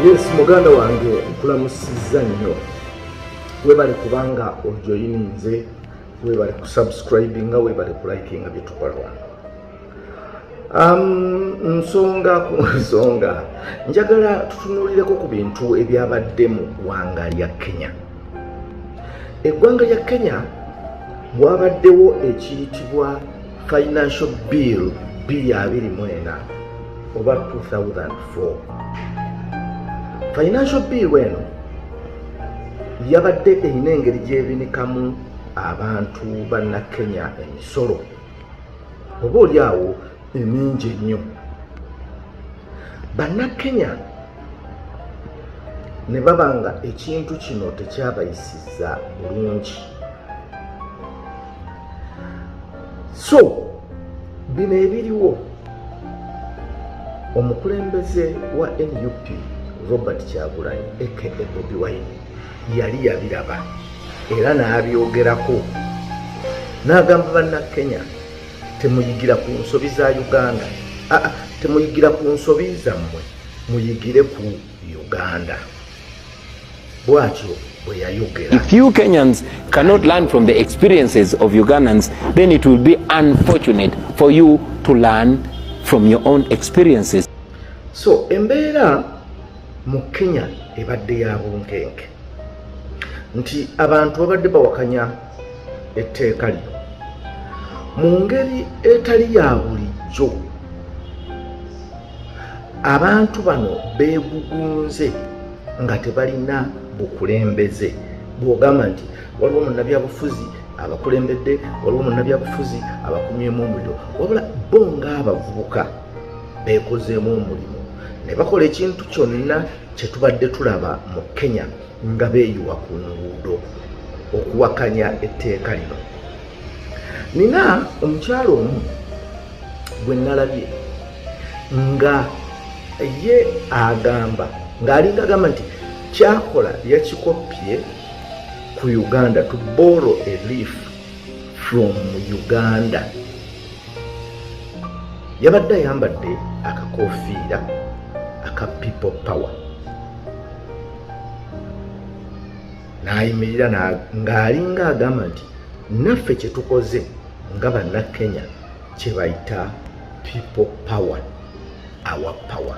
yes muganda wange nkulamusizza nnyo webale kubanga ojoyininze webale kusubscribinga webale kulikinga byetukola wano Um, nsonga ku nsonga njagala tutunulireko ku bintu ebyabadde mu ggwanga lya kenya eggwanga lya kenya wabaddewo ekiyitibwa financial bill 224 oba 2004 financial bill eno yabadde erina engeri gyebinikamu abantu bannakenya emisolo oba oli awo mingi ennyo bannakenya ne baba nga ekintu kino tekyabayisiza bulungi so bino ebiriwo omukulembeze wa nup robert kyagulanyi aka bobi wine yali yabiraba era n'abyogerako n'agamba bannakenya temuyigira ku nsobi za uganda ah, ah, temuyigira ku nsobi zammwe muyigire ku uganda bwatyo bwe yayogera if you kenyans cannot learn from the experiences of ugandans then it will be unfortunate for you to learn from your own experiences so embeera mu kenya ebadde ya bunkenke nti abantu babadde bawakanya etteeka lino mu ngeri etali ya bulijjo abantu bano beegugunze nga tebalina bukulembeze bwogamba nti waliwo munnabyabufuzi abakulembedde waliwo munnabyabufuzi abakumyemu omuliro wabula bo ng'abavubuka beekozeemu omulimu ne bakola ekintu kyonna kye tubadde tulaba mu kenya nga beeyiwa ku nguudo okuwakanya etteeka lino nina omukyalo omu gwe nalabye nga ye agamba ng'alinga agamba nti kyakola yakikoppye ku uganda to borrow a leaf from uganda yabadde ayambadde akakofiira aka people power n'ayimirira ng'alinga agamba nti naffe kye tukoze nga bannakenya kye bayita people power our power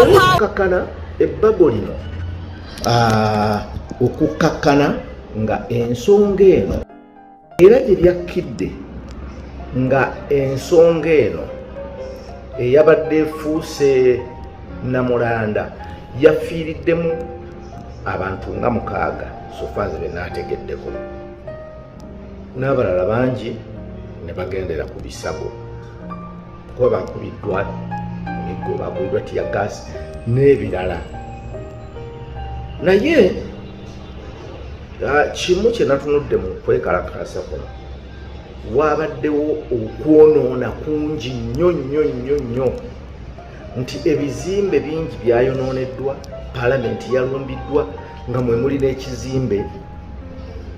okukakkana ebbago lino ah, okukakkana nga ensonga eno era gye lyakkidde nga ensonga eno eyabadde efuuse namulanda yafiiriddemu abantu nga mukaaga sofazi benaategeddeko n'abalala bangi ne bagendera ku bisago kuba bakubiddwa emiggo bakubiddwa tiya gaasi n'ebirala naye ah, kimu kye natunudde mu kwekalakaasa kuno waabaddewo okwonoona kungi nnyo nnyo nnyo nnyo nti ebizimbe bingi byayonooneddwa palamenti yalumbiddwa nga mwe muli n'ekizimbe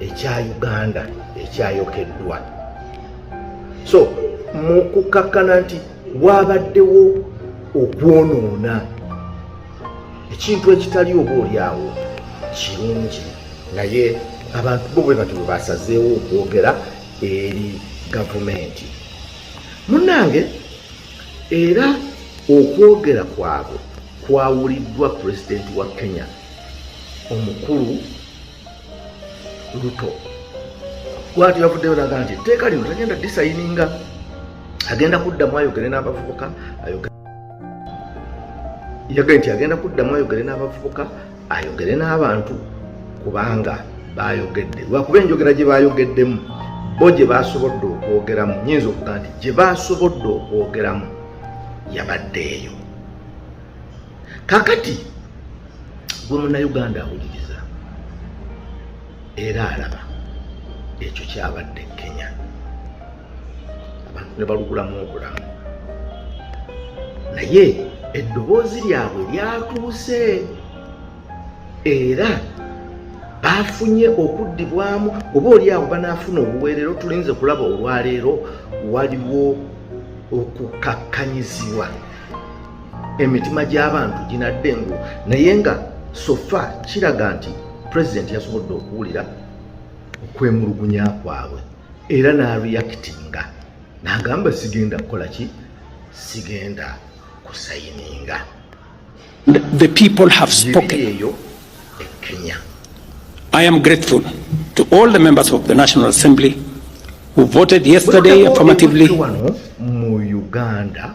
ekya uganda ekyayokeddwa so mu kukkakkana nti waabaddewo okwonoona ekintu ekitali oba olyawo kirungi naye abantu bo bwe bati bwe basazeewo okwogera eri gavumenti munnange Era okwogera kwabwe kwawuliddwa pulezidenti wa Kenya omukulu Ruto bwati yavuddeyo naga nti etteeka lino tagenda disayininga agenda kuddamu ayogere n'abavubuka yagambye nti agenda kuddamu ayogere n'abavubuka ayogere n'abantu kubanga baayogedde lwakuba enjogera gye baayogeddemu bo gye baasobodde okwogeramu nyinza okuga nti gye baasobodde okwogeramu yabadde eyo kakati gwe munauganda awuliriza era alaba ekyo kyabadde kenya abantu ne balugulamu obulamu naye eddoboozi lyabwe lyatuuse era baafunye okuddibwamu oba oli awo banaafuna obuweerero tulinze kulaba olwaleero waliwo okukakkanyizibwa emitima gy'abantu ginadde engu naye nga sofa kiraga nti pulezidenti yasobodde okuwulira okwemulugunya kwabwe era nareactinga nagamba sigenda kukola ki sigenda kusayininga the people have spoken eyo e kenya i am grateful to all the members of the national assembly who voted yesterday affirmatively mu uganda